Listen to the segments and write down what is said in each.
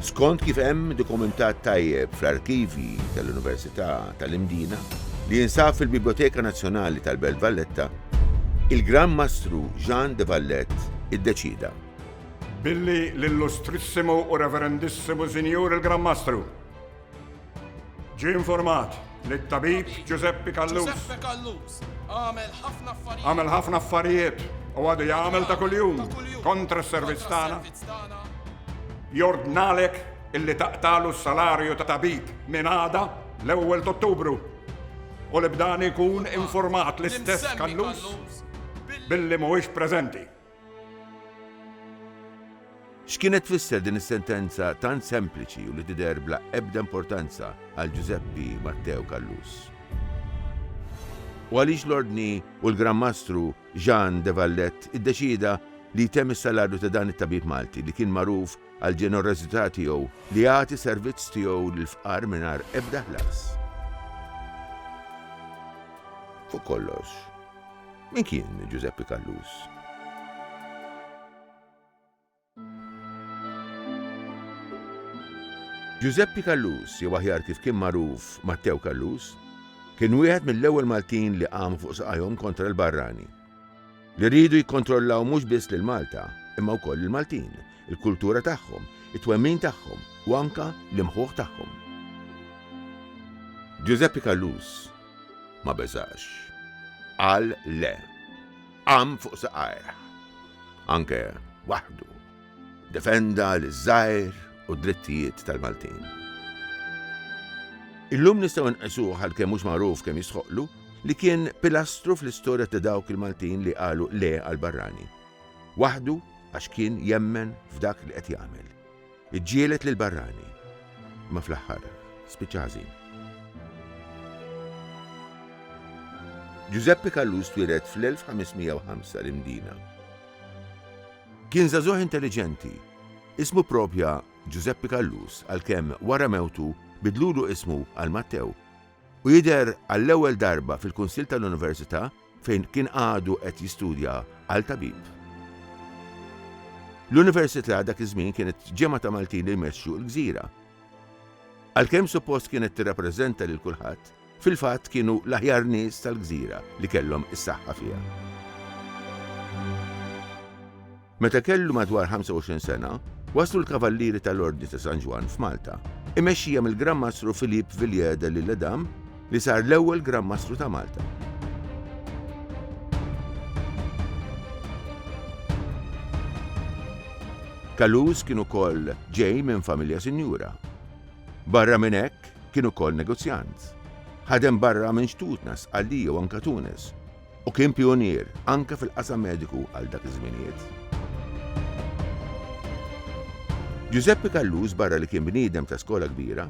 Skont kif hemm dokumentat tajjeb fl-arkivji tal-Università tal-Imdina, li jinsab fil-Biblioteka Nazzjonali tal-Belt Valletta, il-Gran Mastru Jean de Valette iddeċieda. Billi l-Illustrissimu u Reverendissimu Sinjur il-Gran Mastru. Ġie informat li t-tabib Ġużeppi Callus. Ġużeppi Callus għamel ħafna affarijiet. Għamel ħafna affarijiet u għadu jagħmel ta' kuljum kontra s-servizz tagħna. Jordnalek illi taqtalu s-salarju ta' tabib minn għada l-ewwel t'Ottubru u li b'dan ikun informat l-istess Callus billi mhuwiex preżenti. X'kienet tfisser din is-sentenza tant sempliċi u li tidher bla ebda importanza għal Ġużeppi Matteo Callus? U għaliex l-Ordni u l-Gran Mastru Jean de Valette iddeċieda li jtemm is-salarju ta' dan it-tabib Malti li kien magħruf għall-ġenerożità tiegħu li jagħti servizz tiegħu lill-fqar mingħajr ebda ħlas? Fuq kollox, Min kien Ġużeppi Callus? Ġużeppi Callus, jew aħjar kif kien magħruf Mattew Callus, kien wieħed mill-ewwel Maltin li qamu fuq saqajhom kontra l-barrani, li riedu jikkontrollaw mhux biss lil Malta, imma wkoll lill-Maltin, il-kultura tagħhom, it-twemmin tagħhom u anke l-imħuħ tagħhom. Ġużeppi Callus ma beżax. Qal le. Qam fuq saqajh. Anke waħdu. Defenda liż-żgħir u d-drittijiet tal-Maltin. Illum nistgħu nqisuh għalkemm mhux magħruf kemm jistħoqqlu li kien pilastru fl-istorja ta' dawk il-Maltin li qalu le għall-barrani. Waħdu għax kien jemmen f'dak li qed jagħmel. Iġġieled lill-barrani, imma fl-aħħar spiċċa ħażin. Ġużeppi Callus twieled fl-1505 l-Imdina. Kien żagħżugħ intelliġenti. Ismu pprobja Ġużeppi Callus għalkemm wara mewtu bidlulu ismu għal Mattew u jidher għall-ewwel darba fil-Kunsill tal-Università fejn kien għadu qed jistudja għal tabib. L-Università dak iż-żmien kienet ġemgħa ta' Maltin li jmexxu l-gżira. Għalkemm suppost kienet tirrappreżenta lil kulħadd, fil-fatt kienu l-aħjar nies tal-gżira li kellhom is-saħħa fiha. Meta kellu madwar 25 sena, waslu l-Kavallieri tal-Ordni ta' San Ġwann f'Malta, imexxija mill-Gran Mastru Philippe Villiers de l'Isle Adam li sar l-ewwel Gran Mastru ta' Malta. Caluze kien ukoll ġej minn familja sinjura. Barra minn hekk, kien ukoll negozjant. Ħadem barra minn Xtutna, Sqallija u anke Tunis, u kien pijunier anke fil-qasam mediku għal dak iż-żminijiet. Ġużeppi Callus barra li kien bniedem ta' skola kbira,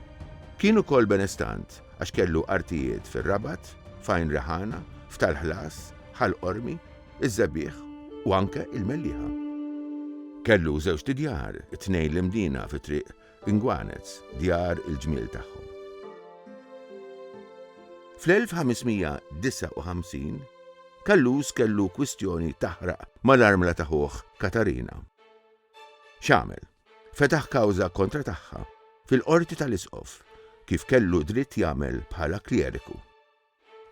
kien ukoll benestant għax kellu artijiet fir-Rabat, f'Għajn Reħana, f'Tal Ħlas, Ħal Qormi, iż-Żebieħ u anke il-Mellieħa. Kellu żewġt idjar, it-tnejn l-imdina fi Triq Ingwanez, djar il-ġmiel tagħhom. Fl-1559, Kallus kellu kwistjoni taħraq mal-armla ta' ħuh Katarina. X'għamel? Fetaħ kawża kontra tagħha fil-qorti tal-isqof, kif kellu dritt jagħmel bħala kljeriku.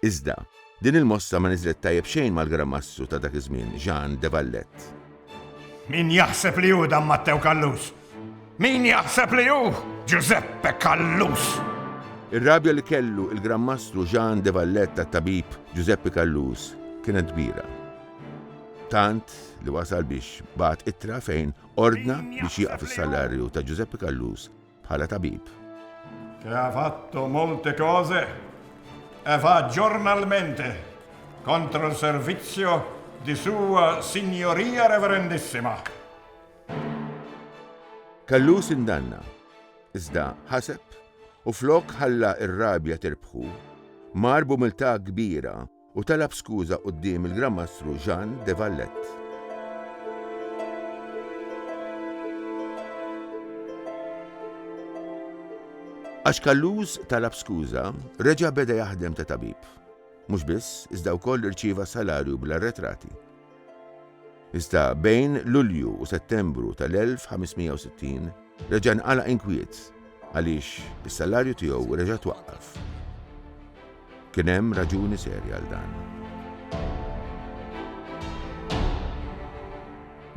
Iżda, din il-mossa ma niżlet tajjeb xejn mal-Gran Mastru ta' dak iż-żmien, Jean de Valette. Min jaħseb li hu dan Mattew Callus? Min jaħseb li hu Ġużeppe Callus? Ir-rabja li kellu il-Gran Mastru Jean de Valette għat-tabib Ġużeppi Callus kienet kbira. Tant li wasal biex bagħat ittra fejn ordna biex jieqaf is-salarju ta' Ġużeppi Callus Bħala tabib. Che ha fatto molte cose e va giornalmente contro il servizio di Sua Signoria Reverendissima. Kellu sindanna, iżda ħaseb u flok ħalla r-rabja tirbħu, mar b'umiltà kbira u talab skuża quddiem il-Gran Mastru Jean de Valette. Għax Kalluż talab skuża, reġa' beda jaħdem ta' tabib. Mhux biss, iżda wkoll irċieva salarju bl-arretrati. Iżda bejn Lulju u Settembru tal-1560 reġa' nqala' inkwiet għaliex is-salarju tiegħu reġa' twaqqaf. Kien hemm raġuni serja għal dan.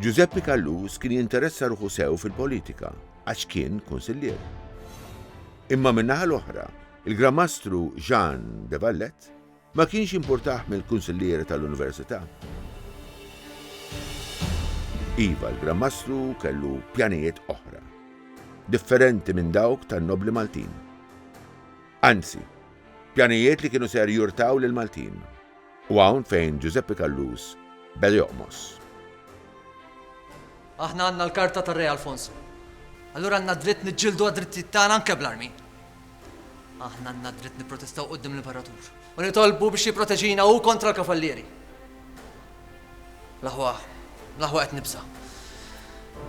Ġużeppi Callus kien jinteressa ruħu sew fil-politika għax kien kunsillier. Imma min-naħa l-oħra, il-Gran Mastru Jean de Vallet Ma kienx jimpurtah mill-kunsillieri tal-università. Iva, l-Gran Mastru kellu pjanijiet oħra, differenti minn dawk tan-nobbli Maltin. Anzi, pjanijiet li kienu ser jurtaw lill-Maltin. U hawn fejn Ġużeppi Callus beda joqmos. Aħna għandna l-karta tar-Re Alfonso. Allura għandna d-dritt niġġieldu għad-drittijiet tagħna anke bl-armi. Aħna għandna dritt nipprotestaw quddiem l-Imperatur u nitolbu biex jipproteġina hu kontra l-kavallieri. L-aħwa, l-aħwa qed nibsa.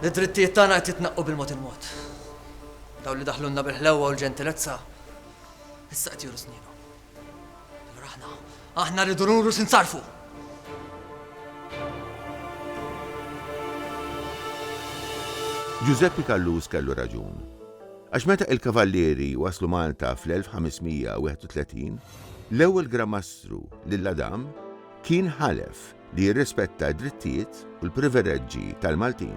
Id-drittijiet tagħna qed jitnaqqu bil-mod il-mod. Daw li daħlunna bil-ħlewwa u l-ġentilezza issa qed juru snienu. Allura aħna, aħna rridu nuru sinsarfu. Giuseppe Callus kellu raġun. Għax meta il-kavallieri waslu Malta fl-1531, l-ewwel Gramastru lil Adam kien ħalef li jirrispetta d-drittijiet u l-privileġġi tal-Maltin.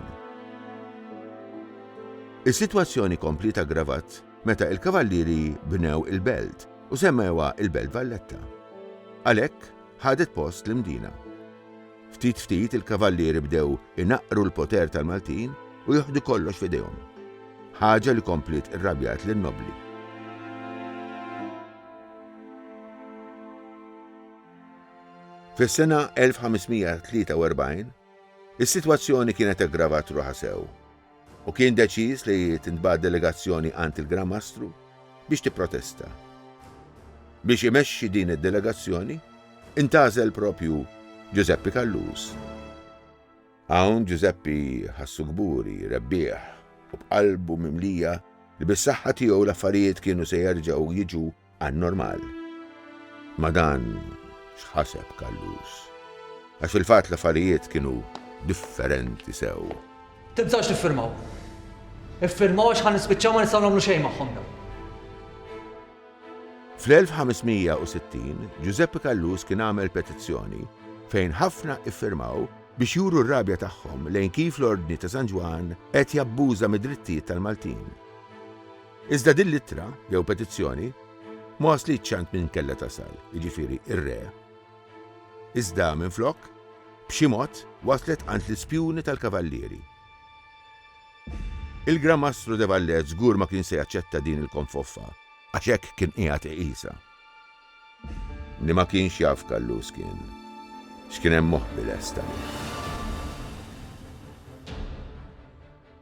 Is-sitwazzjoni kompliet aggravat meta il-Kavallieri bnew il-Belt u semmewha il-Belt Valletta. Għalhekk ħadet post l-Imdina. Ftit ftit il-Kavallieri bdew inaqqru l-poter tal-Maltin u joħdu kollox f'idejhom. Ħaġa li kompliet irrabjat lin-Nobbli. Fis-sena 1543, is-sitwazzjoni kienet aggravat ruħha sew. u kien deċiż li tintbagħat delegazzjoni għand il-Gran Mastru biex tipprotesta. Biex imexxi din id-delegazzjoni, intgħażel proprju Ġużeppi Kalluż. Hawn Ġużeppi ħassu kburi, rebbieħ u b'qalbu mimlija li bis-saħħa tiegħu l-affarijiet kienu se jerġgħu jiġu anormal. Ma' dan x'ħaseb Callus? Għax fil-fatt l-affarijiet kienu differenti sew. Tinsewx tiffirmaw. Iffirmaw għax ħa nispiċċaw ma nistgħu nagħmlu xejn magħhom dawn. Fl-1560, Ġużeppi Callus kien għamel petizzjoni fejn ħafna iffirmaw biex juru r-rabja tagħhom lejn kif l-Ordni ta' San Ġwann qed jabbuża mid-drittijiet tal-Maltin. Iżda din l-ittra, jew petizzjoni, ma waslitx għand min kellha tasal, jiġifieri r-Re. Iżda, minflok, b'xi mod waslet għand l-ispjuni tal-Kavallieri. Il-Gran Mastru de Vallet żgur ma kien se jaċċetta din il-konfoffa, għax hekk kien qiegħed iqisha. Li ma kienx jaf Kallus kien, x'kien hemm moħbi lesta li.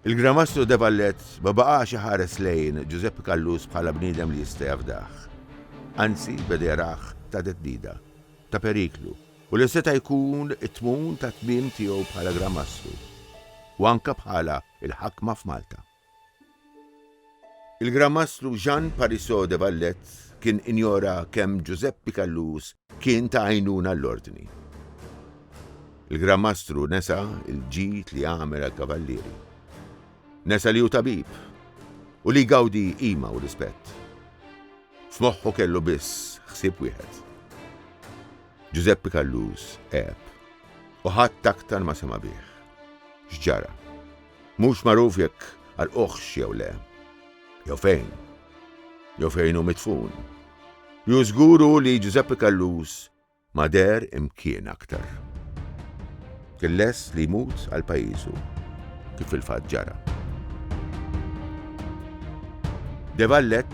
Il-Gran Mastru De Vallet ma baqax iħares lejn Ġużeppi Callus bħala bniedem li jista' jafdah. Anzi, beda jarah ta' theddida, ta' periklu, u li seta' jkun it-tmun tat-tmiem tiegħu bħala Gran Mastru, u anke bħala l-ħakma f'Malta. Il-Gran Mastru Jean Parisot de Vallet kien injora kemm Ġużeppi Callus kien ta' għajnuna l-Ordni. Il-Gran Mastru nesa l-ġid li għamel għall-Kavallieri. Nesa li hu tabib u li jgawdi qima u rispett. F'moħħu kellu biss ħsieb wieħed. Ġużeppi Callus għeb u ħadd aktar ma sema' bih. X'ġara? Mhux magħruf jekk għalquhx jew le. Jew fejn. Jew fejn hu midfun. Ju żgur hu li Ġużeppi Callus ma deher imkien aktar. Kien lest li jmut għal pajjiżu, kif fil-fatt ġara. De Vallet